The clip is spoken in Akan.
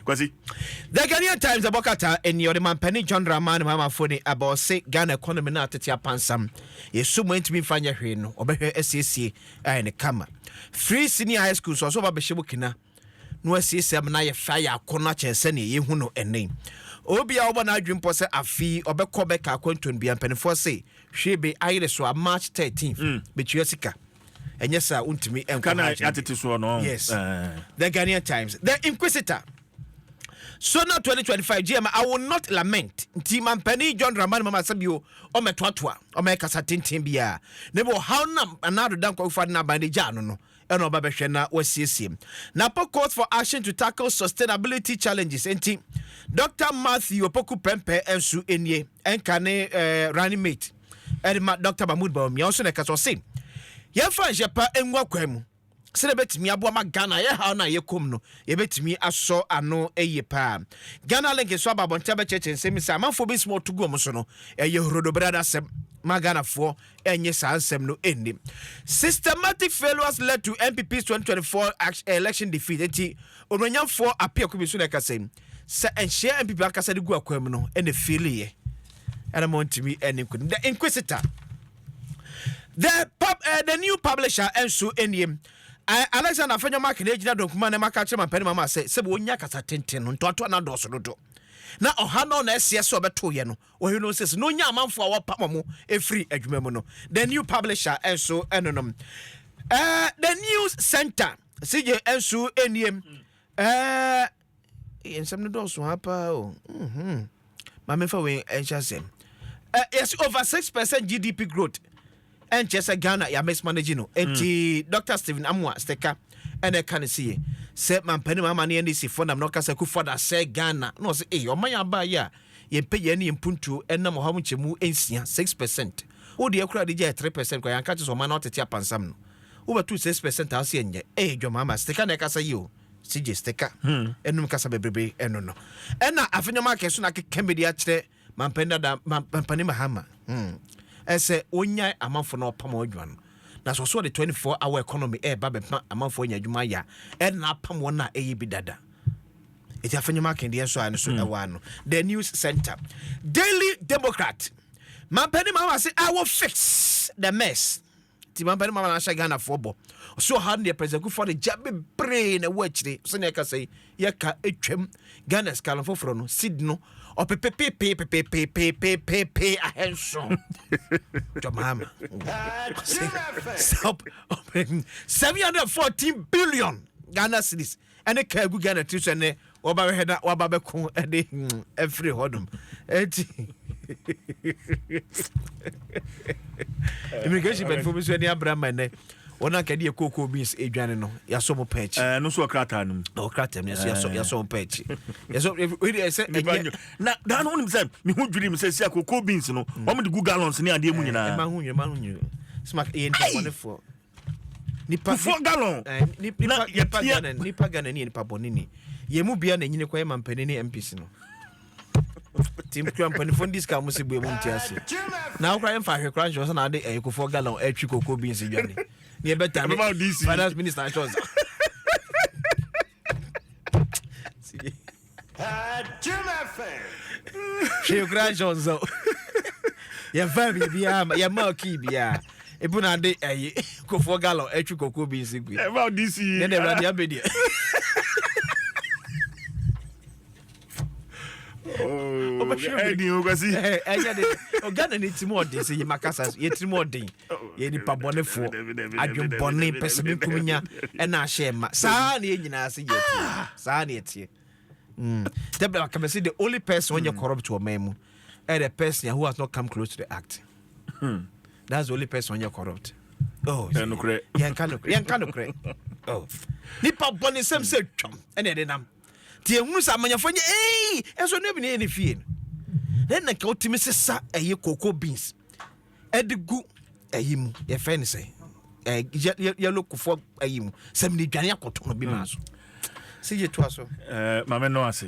Kwasi. The Ghanaian Times ɛbɔ krataa ɛnni ɔde Mampanin John Dramani Mahama mfoni ɛbɛ ɔse Ghana economy no atete apansam yɛsu mu ɛntumi mfa nyɛ hwee no ɔbɛhwɛ asiesie ayɛ no kama firi senior high school nso ɔse ɔba bɛhyɛ mu kena no asiesie ama no ayɛ fɛ ayɛ akɔnɔ akyɛn sɛnea yɛhu no ɛnɛ obia ɔbɔ n'adwene mpɔ sɛ afei ɔbɛkɔ bɛka akwantuo no bia mpanimfoɔ se hwee be ayere so a March 13th bɛtua sika ɛnyɛ saa wontumi nkɔ yes uh. the ghanaian times the inquisitor so now 2025 gm i will not lament nti mampani john dramani mama sɛ bio ɔmɛtoatoa ɔmɛyɛ kasa tenten biara na bi ɔhaw nam anaa doda nkɔfofa de n'aban de gyaa no no ɛna ɔba bɛhwɛ na wasiesie na po calls for action to tackle sustainability challenges nti dr matthew opoku pɛmpɛ nso nie ɛnka ne eh, running mate Ɛde ma Dɔkta Mahmood Bawumia nso na ɛkasa ɔse, Yɛmfa nhyɛ pa ngu akwan mu sɛdeɛ ɛbɛtumi aboa ma Ghana a yɛhaw no a yɛkɔm no yɛbɛtumi asɔ ano yie paa. Ghana Link nso aba abɔnten abɛkyerɛkyerɛ nsɛm mu sɛ amanfoɔ bi nsɛm a wɔto gu wɔn so no ɛyɛ horodobrada asɛm ma Ghanafoɔ ɛnye saa nsɛm no ɛnni. Systematic failures led to NPP's 2024 election defeat enti onuonyamfoɔ Apiaku bi nso na ɛkasa yi sɛ nhyɛ NPP ankasa de gu akwan mu no ɛna ɛfiiliiɛ. ɛna mo ntumi ɛne nkunim the inquisitor the pub uh, the new publisher ɛnso ɛnie eh, alexander afɛnyɛ mark na egyina dɔnkuma na maka kyerɛ mampɛni mama sɛ sɛ wɔnya kasa tenten no ntoatoa na dɔɔso dodo na ɔha no na ɛseɛ sɛ ɔbɛto yɛ no ɔhwɛ no sɛ sɛ na ɔnya amanfoɔ a wɔpam mo ɛfiri adwuma mu no the new publisher ɛnso ɛnonom uh, the new center sigye ɛnso ɛnie uh, Ee, nsɛm no dɔɔso ha paa o. Mm-hmm. Ma memfa wei nhyɛ asɛm. Uh, yes, over 6% GDP growth. And just a Ghana, ya mismanaging no. And mm. Dr. Stephen Amwa Steka, and I can see it. Said Mampani Mamani and Isi Fonam, no Kasa Kufada, said Ghana. No, say, eh, your Maya Baya, ye pay ye any impuntu, and Namu Hamuchemu, and Sia, 6%. Oh, the Okra DJ, 3%, because I catch so man out at Yapansam. Over 2 6% house, and ye, eh, your mamma, Steka Nekasa, you. CJ Sticker ɛnum kasa bebrebe ɛno no ɛna afe nneɛma akɛso na akeka bi de akyerɛ mampanin dada mampanin Mahama ɛsɛ onyae amanfo na ɔpam wɔn adwuma no na so so ɔde 24 hour economy ɛɛba bɛpam amanfo anya adwuma ayɛ a ɛna apam wɔn a ɛyɛ bi dada ɛti afe nneɛma akɛn deɛ nso a ɛno so ɛwɔ ano the news center daily democrat mampanin Mahama se i will fix the mess Nti mampa ne mama na ahyɛ Ghanafoɔ bɔ. Ɔsɛ ɔha no deɛ President Kufuor de gya bebree na ɛwɔ akyire. Sɛnea ɛkasa yi, yɛka atwam Ghana sika no foforɔ no, seed no, ɔpepepepee pepepepepepepe ahɛnso. Jɔmaama. Seven hundred fourteen billion Ghana cedis. ɛne kaa gu ghana tiri so ɛnɛ wɔba bɛhwɛ na waba bɛko ɛde ɛfiri hɔ nom ɛti immigration bɛnfo bi nso ɛni abira ma ɛnɛ wɔn a kɛde yɛ kooko beans edwane no yasɔ mo pɛn akyi. ɛɛ nusu ɔkrataa no mu. ɔkrataa mu yasɔ yasɔ yasɔ mo pɛn akyi yasɔ ebi ɛsɛ ɛnyɛ. na daa no wɔn nim sɛ mihu dwiri mi sɛ si a kooko beans no wɔn de gu gallons ne adeɛ mu nyinaa. ɛɛ ɛma ho nyɛ ɛma ho nyɛ sima yɛ ntɛnbɔnefo. nipa kufuo galɔn eh, na yɛtia nipa gana ni nipa bɔne ni yɛn mu bia na nyini kɔ yɛ mampanin ne mpc no tim kura mpanimfoɔ no disika mo se bue mu nti ase na wokora yɛmfa ahwe kora nhyɛ sɛ na ade eh, kufuo galɔn atwi eh, koko bi nsi dwane ne yɛbɛta ne finance minister nhyɛ sɛ Jim FM. Hwee koraa nhyɛ wo nsa o. Yɛmfaa biribiara ma yɛmaa kii biara. Ebu na ade ayi kofoɔ galɔ atwi kɔkɔɔ bi nsi gui. Ɛma ɔde si yi. Yɛn deɛ awurade abɛ deɛ. Ɛdi o kwasi. Ɛyɛ de. Ghana ni ti mu ɔden sɛ yɛ makasa yɛ ti mu ɔden. yɛ nipa bɔnefoɔ adwen bɔne pɛ sɛ menkum nya ɛna ahyɛ ma saa na yɛ nyinaa sɛ yɛ ah! saa na yɛteɛ mm. dabla kama sɛ the only person ɔnyɛ mm. corrupt wɔ man mu ɛ the person who has not come close to the act hmm. that's the only person ɔnyɛ corrupt oh, yɛnka nokorɛ oh. nipa bɔne sɛm sɛ twam ɛne ɛde nam nti ɛhunu sɛ amanyɛfoɔ nyɛ ei ɛnso no bi ne yɛ ne fie no na nka wotumi sesa ɛyɛ cocoa beans ɛde gu ɛyi mu yɛfrɛ no sɛ ɛɛ yɛlo kofoɔ ɛyi mu sɛ mi de dwane akɔtɔ no bi maa so sɛ yɛ to aso. ɛɛ maame no ase.